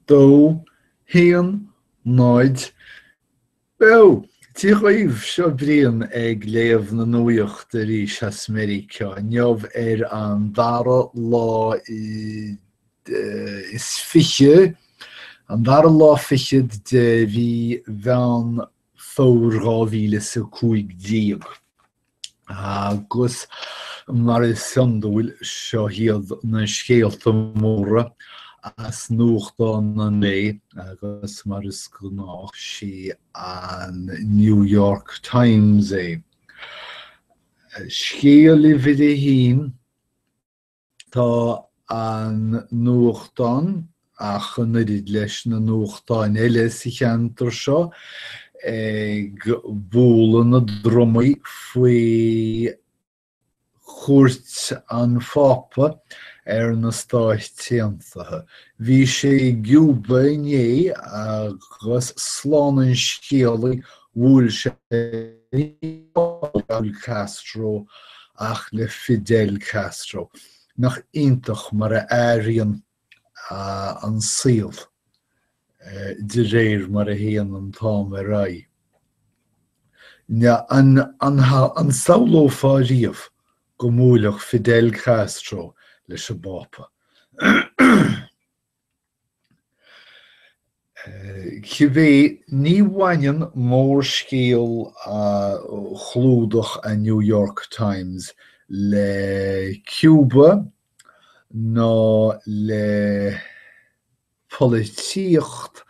dó haon náid beo. Dia dhaoibh, seo Brian ag léamh na nuaíochta arís as Meiriceá inniu ar an dara lá is fiche, an dara lá fichead de mhí Mheán Fomhair dhá mhíle is a cúig déag. Agus mar is iondúil, seo iad na scéalta móra as nuachtán an lae agus mar is gnách sí an New York Times é. Scéal uimhir a haon, Tá an nuachtán, ach an oiread leis na nuachtáin eile sa cheantar seo, ag bualadh na drumaí faoi chuairt an Phápa ar na Stáit Aontaithe. Bhí sé i gCúba inné agus slán an scéalaí Bhuail sé ní hamháin le Raúl Castro ach le Fidel Castro. Nach iontach mar a athraíonn an saol de réir mar a théann an t-am ar aghaidh. An samhlófá riamh go mbuailfeadh Fidel Castro leis an bPápa? Cibé ní bhaineann mórscéal chlúdach an New York Times le Cúba ná le polaitíocht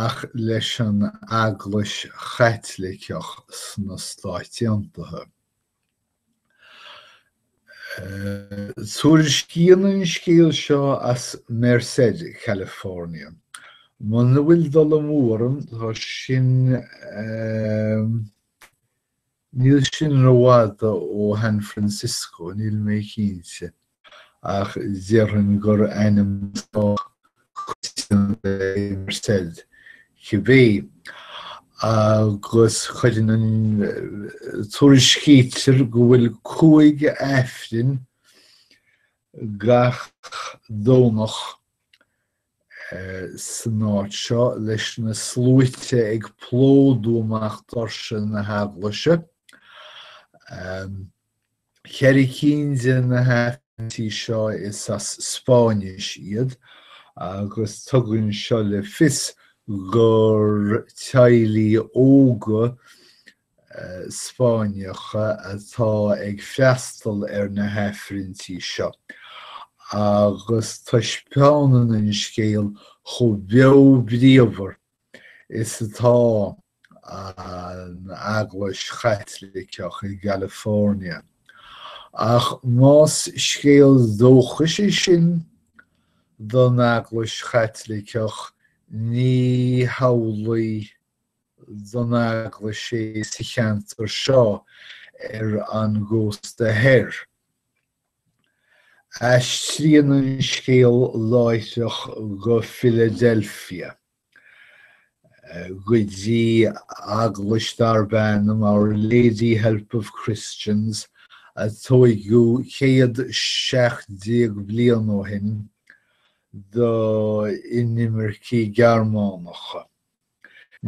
ach leis an Eaglais Chaitliceach sna Stáit Aontaithe. Tuairiscíonn an scéal seo as Merced, California. Muna bhfuil dul amú orm tá sin níl sin rófhada ó Shan Francisco, níl mé cinnte. ach déarfainn gur ainm sách coitianta é Merced, cibé, agus cuireann an, tuairiscítear go bhfuil cúig Aifreann gach Domhnach san áit seo, leis na sluaite ag plódú amach doirse na heaglaise. Ceithre cinn de na haifrinntí seo is as Spáinnis iad agus tugann seo le fios gur teaghlaigh óga Spáinneacha atá ag freastal ar na haifrinntí seo agus taispeánann an scéal chomh beo bríomhar is atá an Eaglais Chaitliceach i gCalifornia. Ach más scéal dóchais é sin don Eaglais Chaitliceach, ní hamhlaidh don Eaglais é sa cheantar seo ar an gcósta thoir. Aistríonn an scéal láithreach go Philadelphia, go dtí eaglais darb ainm Our Lady Help of Christians a tóigeadh 117 bliain ó shin do inimircigh Ghearmánacha.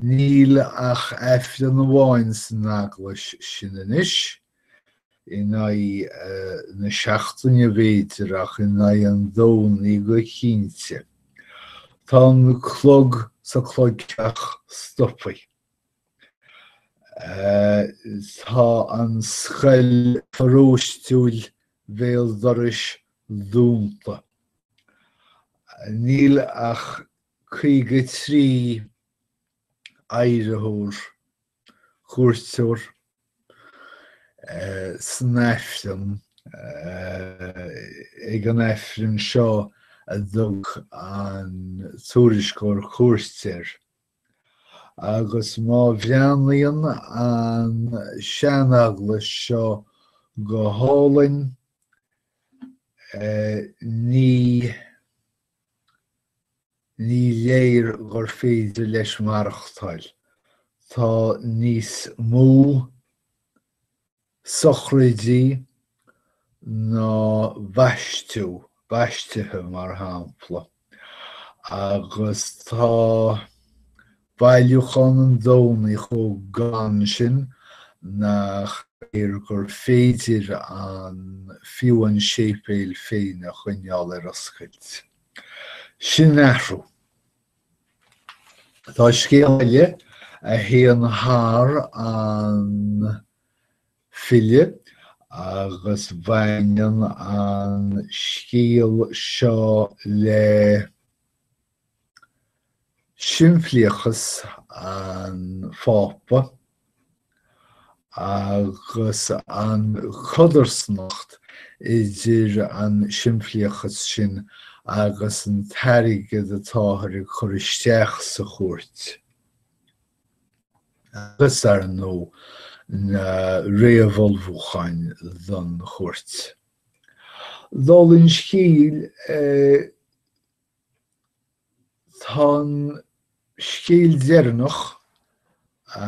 Níl ach Aifreann amháin san eaglais sin anois, in aghaidh na seachtaine b'fhéidir, ach in aghaidh an Domhnaigh go cinnte. Tá an clog sa clogtheach stopthaí. Tá an scoil pharóistiúil bhéal dorais dúnta. Níl ach 53 adhraitheoir, cuairteoir, san Aifreann ag an Aifreann seo a dtug an Tuairisceoir cuairt air agus má bhreathnaíonn an sean-eaglais seo go hálainn ní Ní léir gur féidir leis maireachtáil. Tá níos mó sochraidí ná baistí, baistithe mar shampla, agus tá Bailiúchán an Domhnaigh chomh gann sin nach léir gur féidir an fiú an séipéal féin a choinneáil ar oscailt. Sin athrú. Tá scéal eile a théann thar an bhfilleadh agus baineann an scéal seo le. Simplíochas an Phápa agus an codarsnacht idir an simplíochas sin agus an t-airgead atáthar ag cur isteach sa chuairt. Agus, ar ndóigh, na réamhullmhúcháin don chuairt. Dála an scéil Tá an scéal deireanach a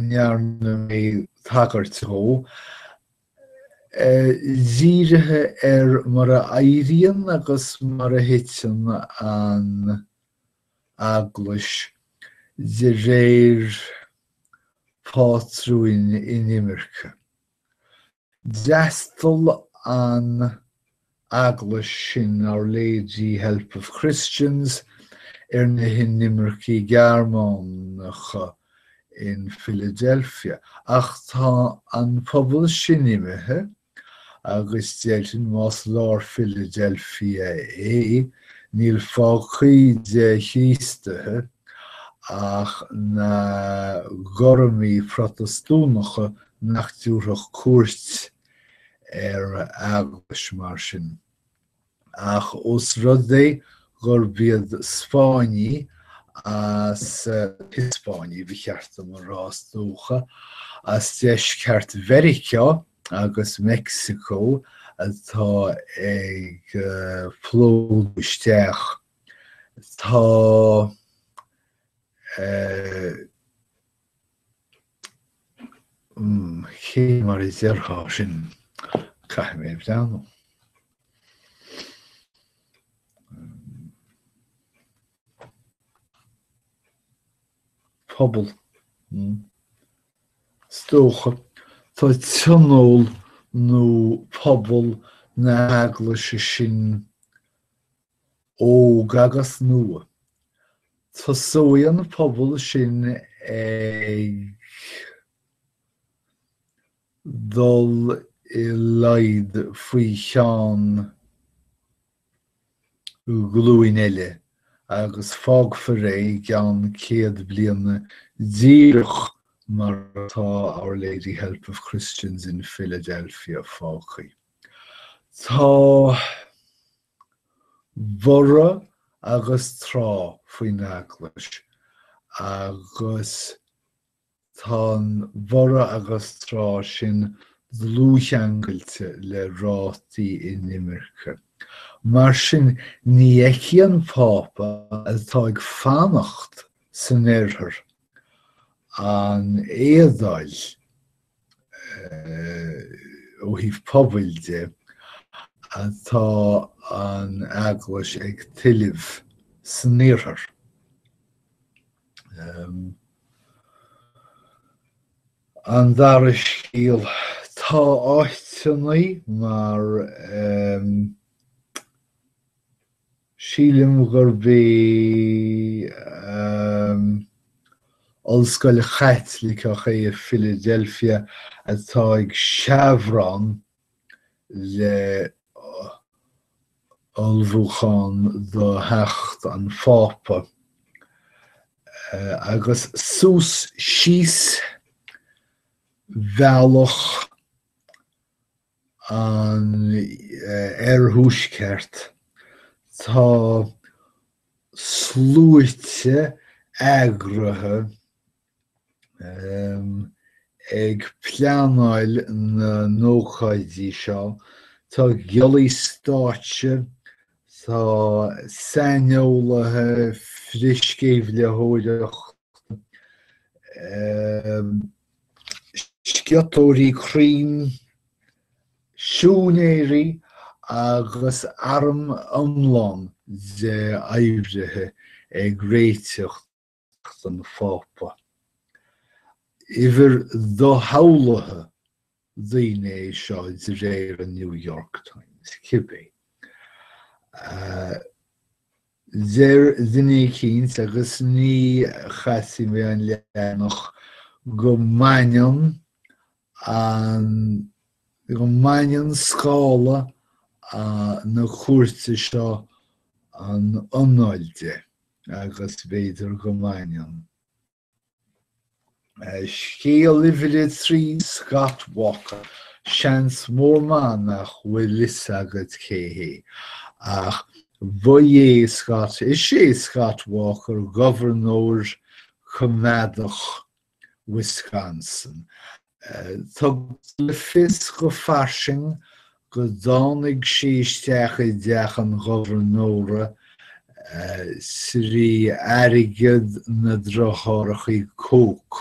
ndearna mé tagairt dhó dírithe ar mar a éiríonn agus mar a thiteann an Eaglais de réir phátrúin inimirce. D'fhreastal an Eaglais sin, Our Lady Help of Christians, ar na hinimircigh Ghearmánacha in Philadelphia, ach tá an pobal sin imithe agus déarfainn más lár Philadelphia é, níl fágtha de Chríostaithe ach na Gormaigh Protastúnacha nach dtabharfadh cuairt ar eaglais mar sin. Ach os rud é gurb iad Spáinnigh, Hispainigh ba cheart dom a rá is dócha, as deisceart Mheiriceá agus Meicsiceo atá ag plódú isteach, tá, eh, Cé mar a déarfá sin, caithfidh mé a bhreathnú. Pobal. Is dócha tá tionól nó pobal na hEaglaise sin Óg agus Nua. Tosóidh an pobal sin ag dul i laghad faoi cheann glúin eile agus fágfar é i gceann céad bliana díreach mar atá Our Lady Help of Christians in Philadelphia fágtha. Tá. bhorradh agus trá faoin Eaglais agus tá an bhorradh agus trá sin dlúthcheangailte le rátaí inimirce. Mar sin ní fheicfidh an Pápa atá ag fanacht san Oirthear an éadáil. ó thaobh pobail de atá an Eaglais ag tuilleamh san Iarthar. An dara scéal, tá áiteannaí mar. Sílim gurb í an Ollscoil Chaitliceach é i Philadelphia atá ag seabhrán le hullmhúchán do theacht an Phápa. Agus suas síos bhealach an oirthuaisceart. Tá sluaite eagraithe ag pleanáil na n-ócáidí seo, tá giollaí stáitse, tá saineolaithe frithsceimhlitheoireachta, sciotóirí crainn, siúinéirí agus arm iomlán de oibrithe ag réiteach don Phápa. Uimhir doshamhlaithe. daoine é seo de réir an New York Times cibé. Deir duine eicínt, agus ní chasfaidh mé an leathanach, go mbaineann an, go mbaineann scála na cuairte seo an anáil de, agus b'fhéidir go mbaineann. Scéal uimhir a trí, Scott Walker. Seans mór maith nach bhfuil fhios agat cé hé, ach ba é Scott, is é Scott Walker gobharnóir coimeádach Wisconsin, Tugtar le fios go fairsing go dtáinig sé isteach i dteach an Ghobharnóra thrí airgead na driothárachaí Koch.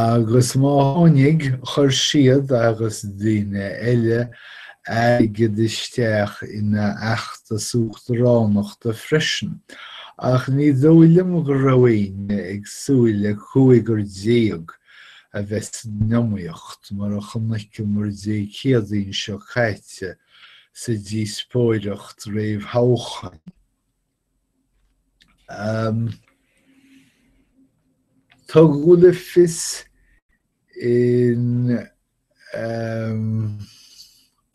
Agus má tháinig, chuir siad agus daoine eile airgead isteach ina fheachtas uachtaránachta freisin, ach ní dóigh liom go raibh éinne ag súil le cúigear déag a bheith san iomaíocht mar a chonaiceamar Dé Céadaoin seo caite sa díospóireacht réamhthoghcháin. Tugadh le fios in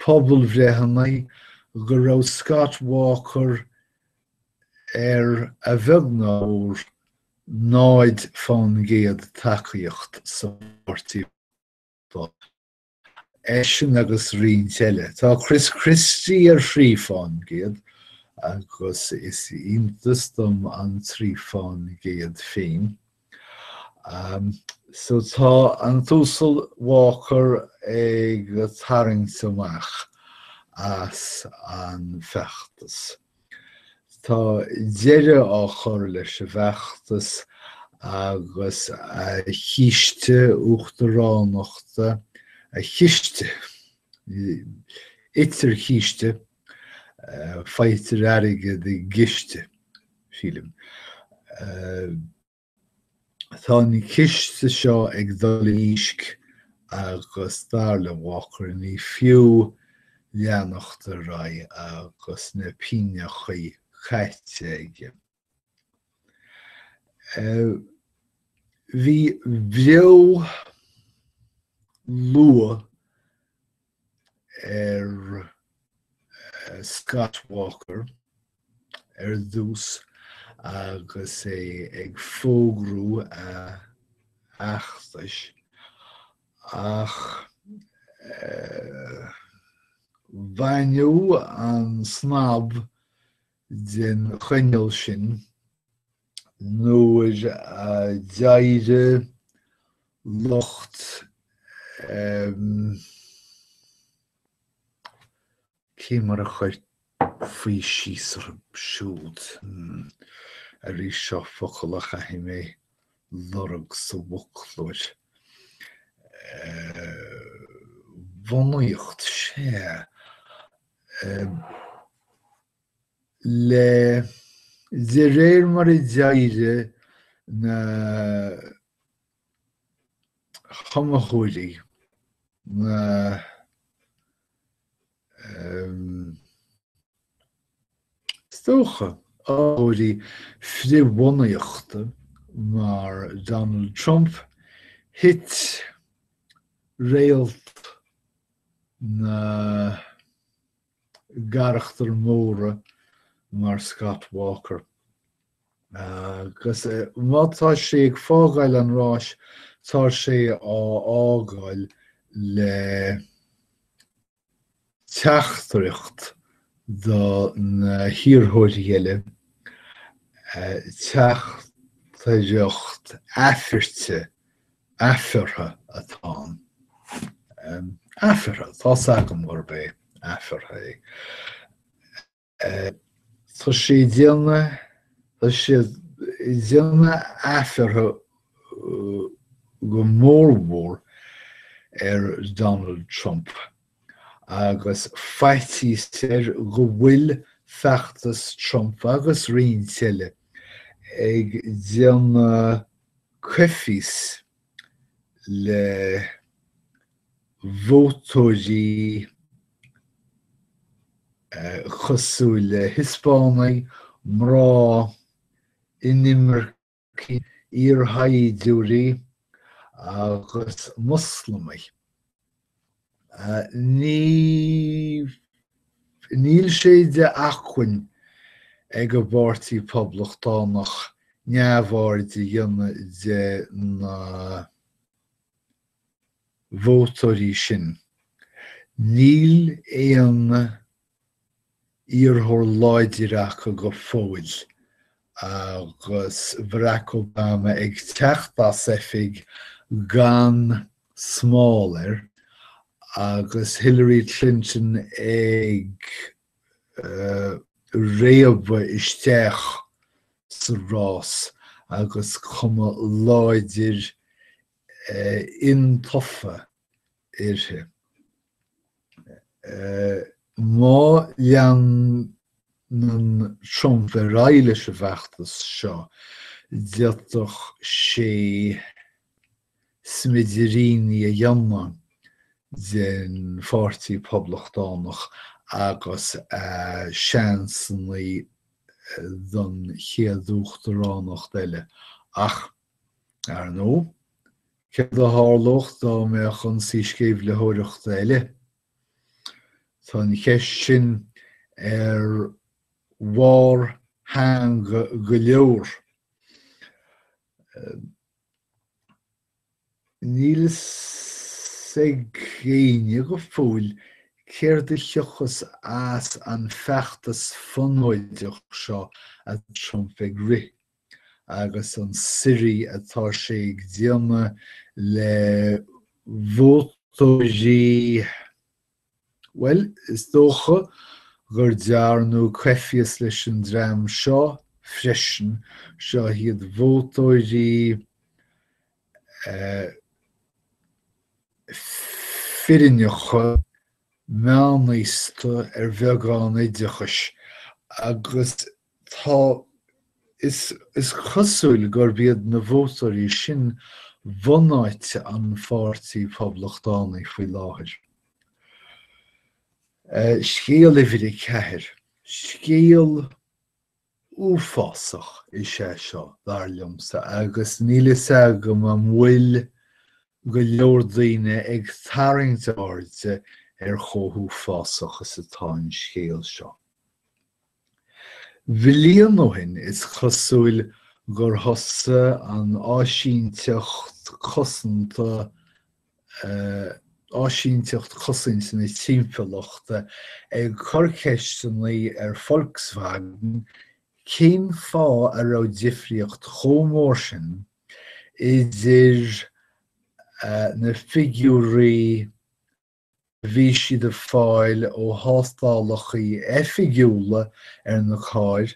pobalbhreitheanna go raibh Scott Walker ar a bheag nó ar náid fán gcéad tacaíocht sa pháirtí. eisean agus roinnt eile. Tá Chris Christie ar thrí fán gcéad agus is iontas dom an trí fán gcéad féin. So tá an tUasal Walker ag tarraingt amach as an feachtas. Tá deireadh á chur leis an bhfeachtas agus a chíste uachtaránachta, a chiste. Itear císte, faightear airgead i gciste, sílim. Tá an ciste seo ag dul i ndísc agus dar le Walker ní fiú leanacht ar aghaidh agus na pingneachaí caite aige. Bhí bua luath ag Scott Walker ar dtús agus é ag fógrú a fheachtais ach baineadh an snab den choinneal sin nuair a d'éirigh lucht ehm. cé mar a chuirfí síos orthu siúd hmm. arís seo focal a chaithfidh mé a lorg sa bhfoclóir eh, bhunaíocht sé le de réir mar a d'éirigh na hiomaitheoirí, na is dócha, iomaitheoirí frith-bhunaíochta mar Donald Trump, thit réalt na gcarachtar móra mar Scott Walker agus má tá sé ag fágáil an ráis tá sé á fhágáil le teachtaireacht do na hiarrthóirí eile teachtaireacht aifirte Aifeartha atá ann. Aifeartha. Tá 's agam gurb é aifeartha. Tá sé ag déanamh, tá sé ag déanamh aifeartha go mór mhór ar Donald Trump agus faitíos air go bhfuil feachtas Trump agus roinnt eile ag déanamh, coimhthíos le vótóirí cosúil le Hiospánaigh, mná, inimircigh, iarshaighdiúirí agus Moslamaigh. Níl sé de acmhainn ag an bPáirtí Poblachtánach neamhaird a dhéanamh de na vótóirí sin. Níl aon iarrthóir láidir acu go fóill agus Barack Obama ag teacht as oifig gan smál air agus Hillary Clinton ag réabadh isteach sa rás agus cuma láidir intofa uirthi. Má leanann Trump ar aghaidh leis an bhfeachtas seo, d'fhéadfadh sé smidiríní a dhéanamh den Pháirtí Poblachtánach agus a seansannaí don chéad uachtaránacht eile, ach Ar ndóigh, céard a tharlódh dá mbeadh ionsaí sceimhlitheoireachta eile? Tá an cheist sin ar bharr theanga go leor. Níl fhios ag éinne go fóill céard a thiocfas as an feachtas fonóideach seo a Trump ag rith. agus an suirí atá sé ag déanamh le vótóirí, bhuel, is dócha gur dearnadh coimhthíos leis an dream seo freisin, seo iad vótóirí fireannacha, meánaosta ar bheagán oideachais agus tá, is cosúil gurb iad na vótóirí sin bunáite an Pháirtí Phoblachtánaigh faoi láthair. Scéal uimhir a ceathair. Scéal uafásach is é seo, dar liomsa, agus níl fhios agam an bhfuil go leor daoine ag tarraingt airde ar chomh huafásach is atá an scéal seo. Bhliain ó shin is cosúil gur thosaigh an áisínteacht cosanta áisínteacht cosanta na timpeallachta ag cur ceisteannaí ar Volkswagen cén fáth a raibh difríocht chomh mór sin idir na figiúirí a bhí siad a fháil ó thástálachaí oifigiúla ar na cairr,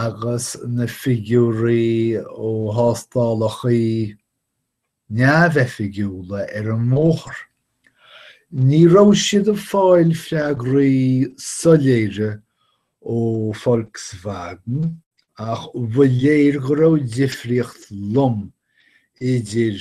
agus na figiúirí ó thástálachaí neamhoifigiúla ar an mbóthar. Ní raibh siad ag fáil freagraí soiléire ó Volkswagen, ach ba léir go raibh difríocht lom idir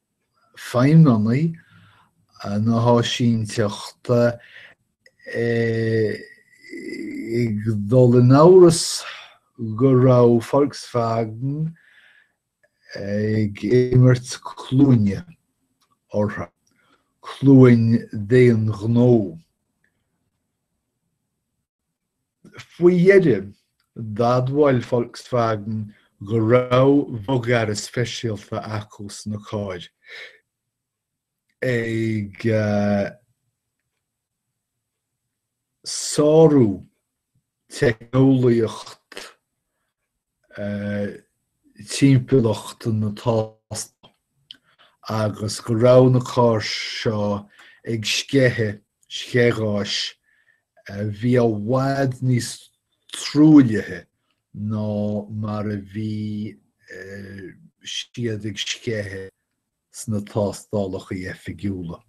feidhmeannaigh na hÁisínteachta ag dul in amhras go raibh Volkswagen ag imirt cluaine orthu, cluain d'aon ghnó. Faoi dheireadh, d'admhaigh Volkswagen go raibh bogearra speisialta acu sna cairr ag sárú teicneolaíocht timpeallacht na tástála agus go raibh na cairr seo ag sceitheadh sceithgháis a bhí i bhfad níos truaillithe ná mar a bhí siad ag sceitheadh sna tástálacha oifigiúla.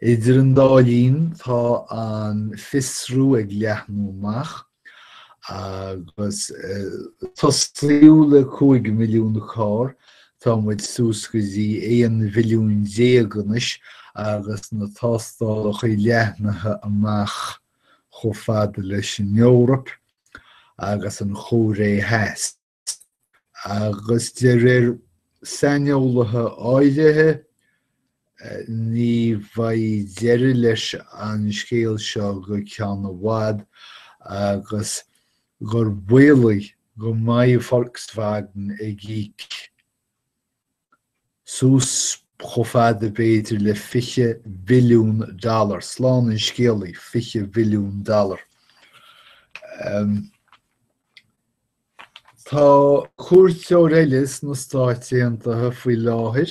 Idir an dá linn tá an fiosrú ag leathnú amach agus tosaíodh le cúig mhilliún carr, tá muid suas go dtí aon mhilliún déag anois agus na tástálacha leathnaithe amach chomh fada leis an Eoraip agus an Chóiré Theas. Agus de réir saineolaithe áirithe, ní bheidh deireadh leis an scéal seo go ceann i bhfad agus gur baolach go mbeidh Volkswagen ag íoc. suas chomh fada b'fhéidir le fiche billiún dollar, slán an scéalaí, fiche billiún dollar. Tá cuairteoir eile sna Stáit Aontaithe faoi láthair,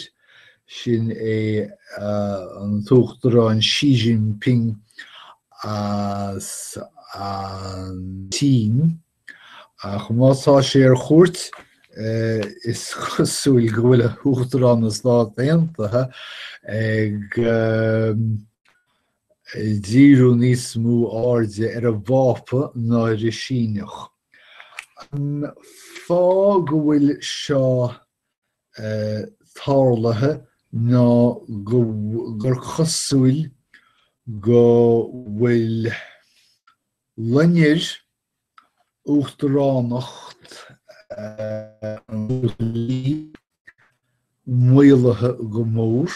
sin é an tUachtarán Xi Jinping as an tSín. Ach má tá sé ar chuairt, is cosúil go bhfuil Uachtarán na Stát Aontaithe ag díriú níos mó airde ar an bPápa ná ar an Síneach. An fáth go bhfuil seo tarlaithe ná gur cosúil go bhfuil loinnir Uachtaránacht an Li maolaithe go mór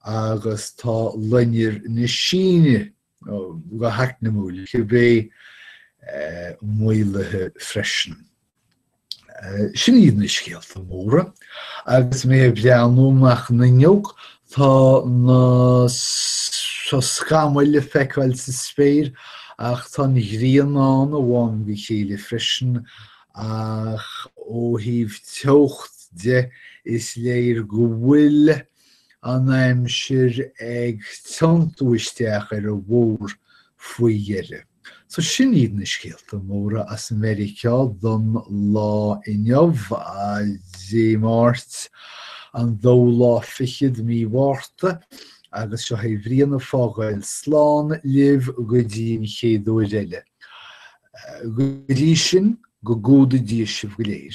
agus tá loinnir na Síne go heacnamúil cibé maolaithe freisin. Sin iad na scéalta móra agus mé ag breathnú amach an fhuinneog tá na scamaill le feiceáil sa spéir ach tá an ghrian ann ó am go chéile freisin ach ó thaobh teocht de is léir go bhfuil an aimsir ag tiontú isteach ar an bhfómhar faoi dheireadh. So sin iad na scéalta móra as Meiriceá don lá inniu, Dé Máirt, an dóú lá fichead, Mí Mhárta, agus seo é Brianna ag fágáil slán libh go dtí an chéad uair eile. Go dtí sin, go gcumhdaí Dia sibh go léir.